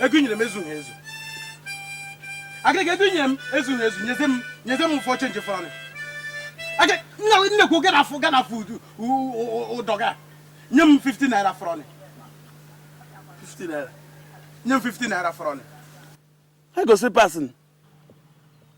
ego i nyere m ezughị ezu agịrịga ego i nyere m ezughị ezu nyeze m nyeze m ụfọ chenji fọrọnụ nnekwu gana afụ gana afụ ụdọ ga nye m 50 naira fọrọnụ 50 naira nye m 50 naira fọrọnụ ego slipas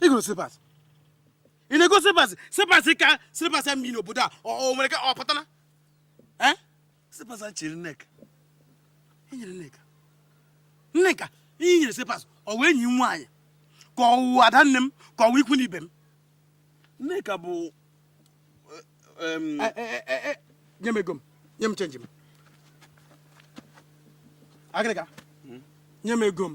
i goro slipas ị na-ego slipas slipas ka slipas m n'obodo a o nwere ka ọ pụtana slipas chịrị nneka i nyere nneka nneka i nyere slipas ọ wụ enyi nwaanyị ka ọ wụ ada nne m ka ọ wụ ikwu na ibe m nneka bụ eh, eh, eh, nye m ego m nye m chenji m agịrịga hmm? nye m ego m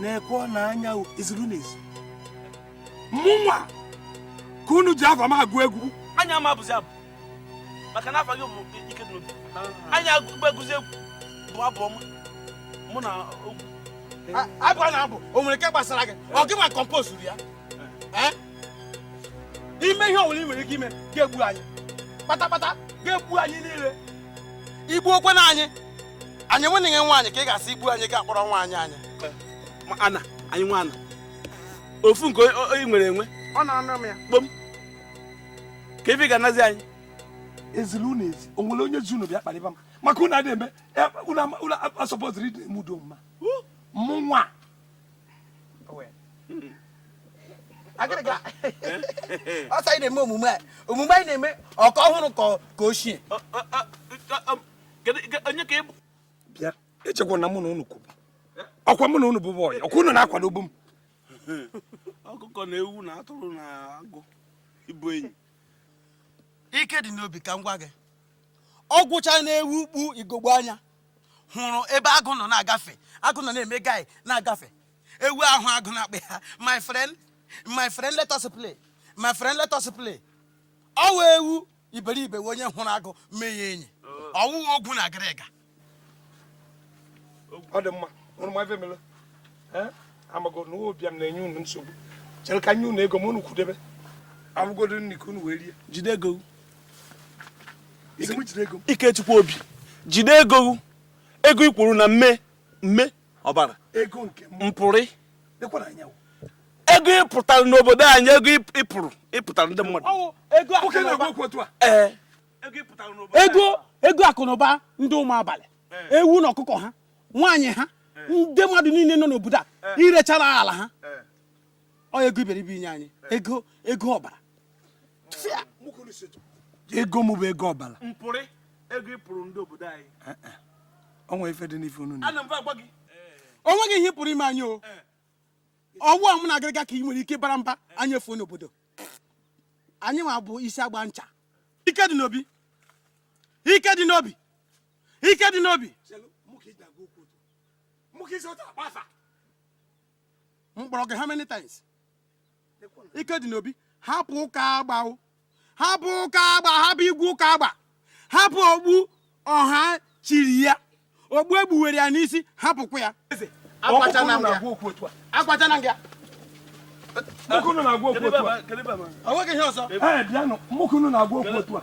na-ekwu na anya e zili unu ezi mụnwa ka unu ji afa m agụ egwu anyị ama abụzi abụ maka na afa gị bụ ike dị n'obi anyị ama agụzi egwu bụ abụ ọma mụ na ogwu abụ a na-abụ o nwere nke gbasara gị ọ gịnwa kọmpozuru ya eh? i mee ihe ọbụla ị nwere ike ime ị ga-egbu anyị kpatakpata ị ga-egbu anyị niile i gbuo kwanụ anyị anyị enweghị nwaanyị ka ị ga-asị i gbuo anyị ị ga-akpọrọ nwaanyị anyị ana anyị nwa ana ofu nke anyị nwere enwe ọ na-anụ m ya kpom kee ife ị ga-anazi anyị e zili unu ezi o nwere onye zi unu bịa kparịba m maka unu adịghị eme unu asọpụtụrụ ndị na-eme udo ma mụnwa agịrịga ọsọ anyị na-eme omume a omume anyị na-eme ọ ka ọhụrụ ka ochie onye ka ị bụ bịa echekwa na mụ na unu kwụbu ọ kwa mụ na unu bụ bọyị ọ kwa unu na-akwadobu m ọkụkọ na ewu na atụrụ na agụ ịbụ enyi ike dị n'obi ka m gwa gị ọ gwụcha na ewu kpu ugogbe anya hụrụ ebe agụ nọ na-agafe agụ nọ na-eme guy na-agafe ewu ahụ agụ na-akpọ ya my friend my friend let us play my friend let us play ọ wụ ewu iberibe wụ onye hụrụ agụ mee ya enyi ọ wụghị ogwu na agịrịga ọ dị mma unu ma ife mere amago m na ụbịam na-enye unu nsogbu chere ka m nye unu ego m unu kwudebe ọ bụgodu nri ka unu wee rie jide ego ike dị n'obi jide ego ego i kwuru na mme mme ọbara ego nke mpụrụ ego ị pụtara n'obodo anyị ego ị pụrụ ị pụtara ndị mmadụ ego ego akụ na ụba ndị ụmụ abalị ewu na ọkụkọ ha nwaanyị ha ndị mmadụ niile nọ n'obodo a i rechara ala ha ọ ego iberibe i nye anyị ego ego ọbara ego mụ bụ ego ọbara mpụrị ego ị pụrụ ndị obodo anyị eh, eh. o nwere ife dị n'ife unu na o nweghị ihe pụrụ ime anyị o eh. ọ wụ ụmụ na agịrịga ka ị nwere ike bara mba anyị efuo n'obodo anyị nwa bụ isi agba ncha Ikedinobi Ikedinobi Ikedinobi m kpọrọ gị how many times Ikedinobi hapụ ụka agba hapụ ụka agba hapụ igwe ụka agba hapụ okpu ọha chiri ya okpu e kpuwere ya n'isi hapụkwa ya akwachana nga ya mụ ka unu na-agwa okwu otu a. O nweghị ihe ọzọ. Ee, bịanụ, mụ ka unu na-agwa okwu otu a.